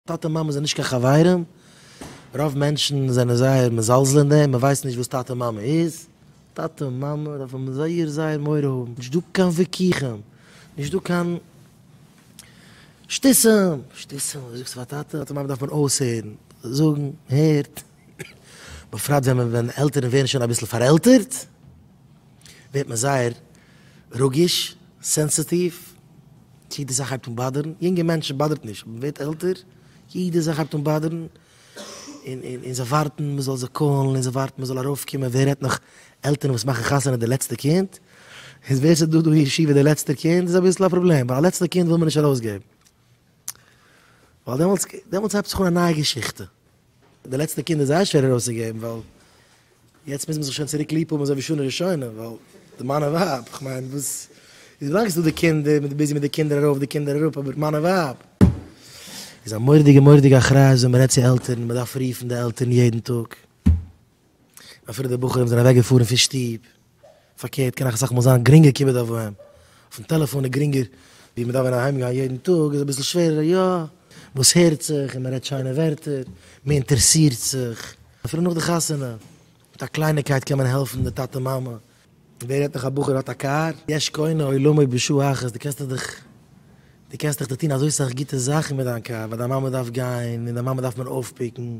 טאטע מאמע זענען נישט קיין חברים, רוב מענטשן זענען זייער מזלזל אין דעם, מען ווייסט נישט וואס טאטע מאמע איז, טאטע מאמע דארף מען זייער זייער מורא האבן, נישט דא קיין וויכוחים, נישט דא קיין שטותים, שטותים וואס זאגסטו פאר טאטע, טאטע מאמע דארף מען אויסהערן, זאגן, הערט, בפרט ווען מען ווען עלטערן ווערן שוין אביסל פארעלטערט, ווערט מען זייער רגיש, סענסעטיוו. צו יעדע זאך הייבט אן באדערן יונגע מענטשן באדערט נישט אבער מען ווערט עלטער יעדע זאך הייבט אן באדערן און זיי ווארטן מען זאל זיי קאלן און זיי ווארטן מען זאל ארויף קומען ווער רעדט נאך עלטערן וואס מאכן חתונה די לעצטע קינד איז ווער ס'איז דא דא אין ישיבה די לעצטע קינד איז אביסל א פראבלעם ווייל א לעצטע קינד וויל מען נישט ארויסגעבן ווייל דעמאלטס דעמאלטס הייבט זיך אן א נייע געשיכטע. די לעצטע קינד איז זייער שווער ארויסצוגעבן, ווייל יעצט מוז מען זיך שוין צוריק ליב האבן אזוי ווי שנה ראשונה, ווייל די מאן און ווייב, כ'מיין וואס איז ווילאנג איז דא די קינד איז מען ביזי מיט די קינדער ארויף די קינדער אראפ, אבער מאן און ווייב איז א מורא'דיגע מורא'דיגע אחריות ווען מ'רעדט צו עלטערן, מ'דארף רופן די עלטערן יעדן טאג, אפילו די בחורים זענען אוועקגעפארן פון שטוב. פארקערט קען אויך אסאך מאל זיין גרינגער כיבוד אב ואם, אויפן טעלעפאן איז גרינגער, ווי מ'דארף ווען אהיים גיין יעדן טאג איז אביסל שווערער, יא, וואס הערט זיך און מ'רעדט שיינע ווערטער, מ'אינטערעסירט זיך, אפילו נאך די חתונה, מיט א קלייניקייט קען מען העלפן די טאטע מאמע. ווער רעדט נאך א בחור האט א קאר, יש קונה עולמו בשעה אחת, דו קענסטעך דיך דו קענסטעך דיר טון אזוי סאך גוטע זאכן מיט דיין קאר, ווייל דיין מאמע דארף גיין, און דיין מאמע דארף מען אויפפיקן,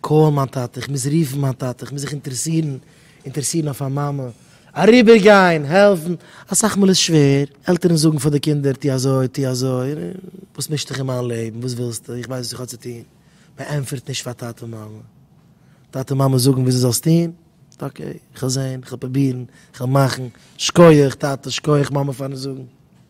קאל מיין טאטע, איך מוז רופן מיין טאטע, איך מוז זיך אינטערעסירן, אינטערעסירן אויף מיין מאמע, אריבערגיין, העלפן, אסאך מאל איז שווער, עלטערן זאגן פאר די קינדער טו אזוי, טו אזוי, וואס מישט דיך אין מיין לעבן, וואס ווילסטו, איך ווייס וואס איך האב צו טון, מען ענטפערט נישט פאר טאטע מאמע, טאטע מאמע זאגן וואו דו זאלסט טון, אקעי, איך וועל זען, איך וועל פרובירן, איך וועל מאכן, שקויעך טאטע, שקויעך מאמע פארן זאגן.